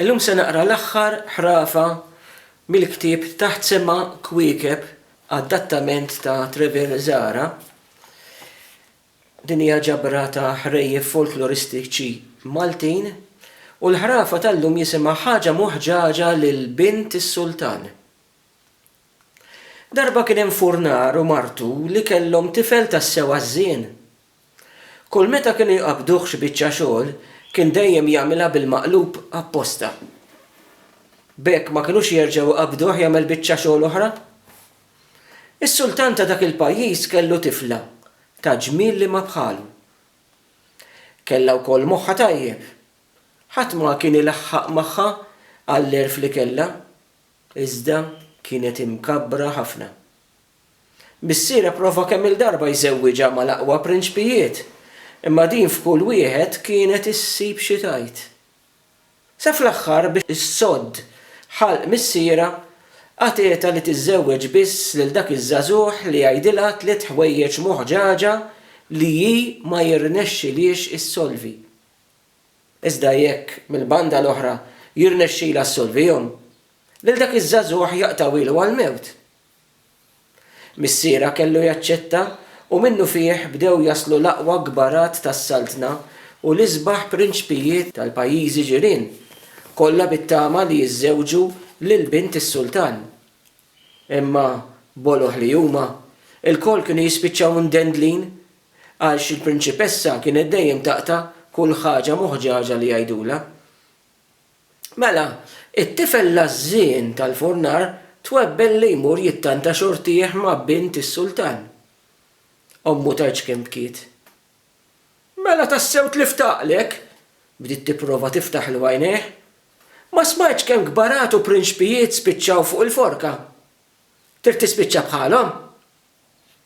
Illum se naqra l-aħħar ħrafa mill-ktieb Taħt Sema Kwiekeb, adattament ta' Trevor Zahra. Din hija ġabra ta' ħrejjef folkloristiċi Maltin u l-ħrafa tal-lum jisimha Ħaġa Muħġaġa lil Bint is-Sultan. Darba kien hemm furnar u martu li kellhom tifel tassew għażżien. Kull meta kienu jqabbduh xi biċċa xogħol, kien dejjem jagħmilha bil-maqlub apposta. B'hekk ma kinux jerġgħu jqabbduh jagħmel biċċa xogħol oħra. Is-sultan ta' dak il-pajjiż kellu tifla ta' ġmiel li ma bħalu. Kellha wkoll moħħha tajjeb. Ħadd ma kien ilaħħaq magħha għall-għerf li kellha, iżda kienet imkabbra ħafna. Missier ipprova kemm-il darba jżewwiġha mal-aqwa prinċpijiet, imma din f'kull wieħed kienet issib xi tgħid. Sa fl-aħħar biex issodd ħalq missierha, għatietha li tiżżewweġ biss lil dak iż-żagħżugħ li jgħidilha tliet ħwejjeġ moħġaġa li hi ma jirnexxilhiex issolvi. Iżda jekk, mill-banda l-oħra, jirnexxilha ssolvihom, lil dak iż-żagħżugħ jaqtgħu ilu għall-mewt. Missierha kellu jaċċetta, u minnufih bdew jaslu l-aqwa kbarat tas-Saltna u l-isbaħ prinċpijiet tal-pajjiżi ġirien, kollha bit-tama li jiżżewġu lil bint is-sultan. Imma, boloh li huma, ilkoll kienu jispiċċaw mdendlin għalx il-prinċipessa kienet dejjem taqta' kull ħaġa moħġaġa li jgħidulha. Mela, it-tifel l-għażżien tal-furnar twebbel li jmur jittanta xortih ma' bint is-sultan. Ommu tgħidx kemm bkiet. Mela tassew tlift għaqlek? bdiet tipprova tiftaħlu għajnejh. Ma smajtx kemm kbarat u prinċpijiet spiċċaw fuq il-forka? Trid tispiċċa bħalhom?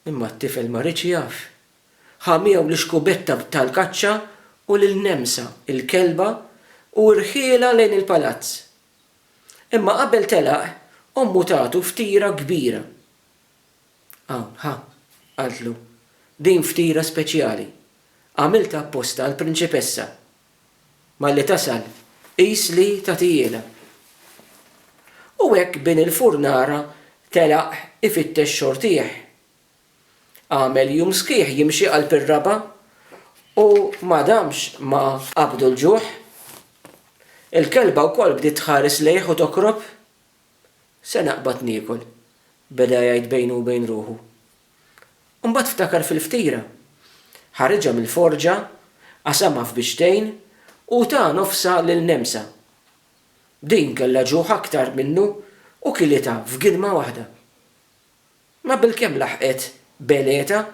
Imma t-tifel ma riedx jaf Ħa miegħu l-ixkubetta tal-kaċċa u lil Nemsa, il-kelba, u rħielha lejn il-palazz. Imma qabel telaq, ommu tagħtu ftira kbira. Hawn, ħa, qaltlu, din ftira speċjali. Għamiltha apposta għall-prinċipessa. Malli tasal, qis li tagħtihielha. U hekk bin il-furnara telaq ifittex xortih. Għamel jum sħiħ jimxi qalb ir-raba' u ma damx ma qabdu l-ġuħ. Il-kelba wkoll bdiet tħares lejh u tokrob. Se naqbad niekol, beda jgħid bejnu u bejn ruħu. Imbagħad ftakar fil-ftira. Ħariġha mill-forġa, qasamha f'bixtejn u ta nofsha lil Nemsa. Din kellha ġuħ aktar minnu u kilitha f'gilma waħda. Ma bilkemm laħqet b'Eneta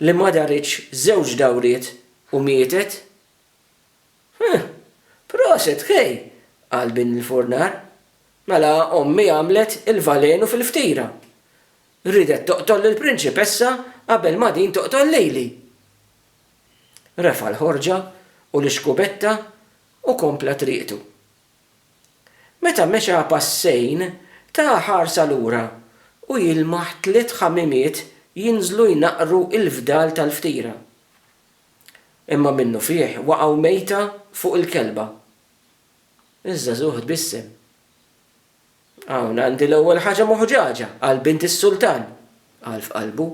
li ma daritx żewġ dawriet u mietet. Huh! Proset, Kay! qal bin il-furnar. Mela ommi għamlet il-valenu fil-ftira. Riedet toqtol lill-prinċipessa qabel ma din toqtol lili! Refa' l-ħorġa u l-ixkubetta u kompla triqtu. Meta mexa passejn, ta ħarsa lura u jilmaħ tliet ħamimiet jinżlu jnaqqru l-fdal tal-ftira. Imma minnufih waqgħu mejta fuq il-kelba. Iż-żagħżugħ tbissem. Hawn għandi l-ewwel ħaġa moħġaġa għal bint is-sultan, qal f'qalbu.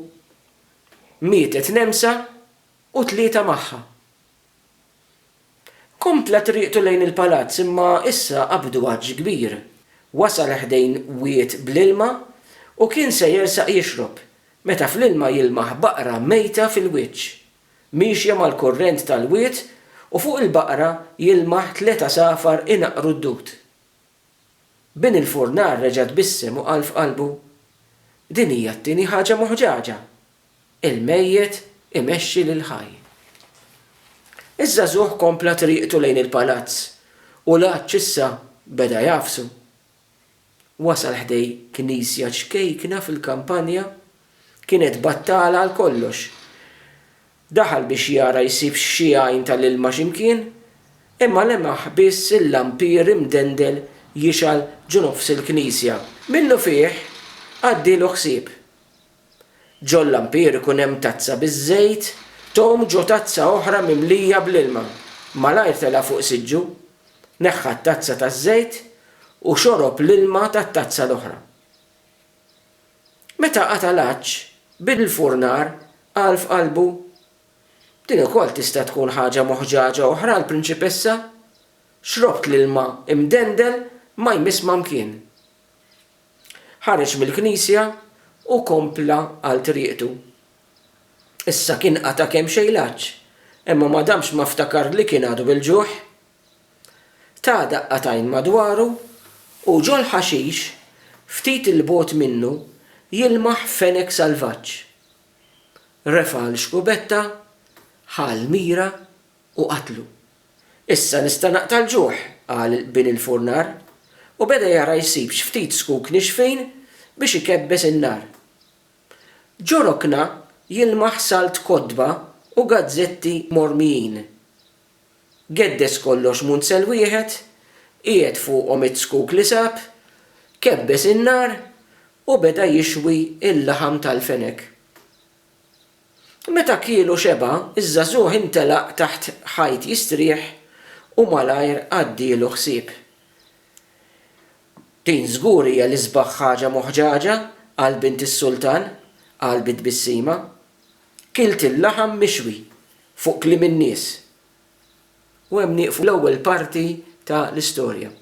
Mietet Nemsa u tlieta magħha. Kompla triqtu lejn il-palazz imma issa qabdu għatx kbir. Wasal ħdejn wied bl-ilma u kien se jersaq jixrob meta fl-ilma jilmaħ baqra mejta fil-wiċċ. Miexja mal-kurrent tal-wied u fuq il-baqra jilmaħ tliet għasafar inaqqru d-dud. Bin il-furnar reġa' tbissem u qal f'qalbu, Din hija t-tieni ħaġa moħġaġa. Il-mejjet imexxi lill-ħaj. Iż-żagħżugħ kompla triqtu lejn il-palazz u l-għatx issa beda jagħfsu. Wasal ħdej knisja ċkejkna fil-kampanja, kienet battala għal kollox. Daħal biex jara jsibx xi għajn tal-ilma xi mkien, imma lemaħ biss il-lampier imdendel jixgħal ġo nofs il-knisja. Minnufih għaddielu ħsieb. Ġol-lampier ikun hemm tazza biż-żejt, tgħum ġo tazza oħra mimlija bl-ilma. Malajr telgħa fuq siġġu, neħħa t-tazza taż-żejt u xorob l-ilma tat-tazza l-oħra. Meta qata' l-għatx, bil l-furnar qal f'qalbu, Din ukoll tista' tkun ħaġa moħġaġa oħra l-prinċipessa? Xrobt l-ilma imdendel ma jmiss ma mkien. Ħareġ mill-knisja u kompla għal triqtu. Issa kien qata' kemxejn l-għatx, imma ma damx ma ftakar li kien għadu bil-ġuħ. Ta daqqatgħin madwaru u ġol-ħaxix ftit 'il bogħod minnu jilmaħ fenek salvaġġ. Refa' l-xkubetta, ħa l-mira u qatlu. Issa nista' naqta' l-ġuħ, qal bin il-furnar, u beda jara jsib x'ftit zkuk nixfin biex ikebbes in-nar. Ġo rokna jilmaħ salt kotba u gazzetti mormijin. Geddes kollox munzel wieħed, qiegħed fuqhom iz-zkuk li sab, kebbes in-nar u beda jixwi l-laħam tal-fenek. Meta kiel u xeba', iż-żagħżugħ intelaq taħt ħajt jistrieħ u malajr għaddielu ħsieb. Din żgur hija l-isbaħ ħaġa moħġaġa għal bint is-sultan, qal bi tbissima. Kilt il-laħam mixwi fuq kliem in-nies. U hemm nieqfu l-ewwel parti ta' l-istorja.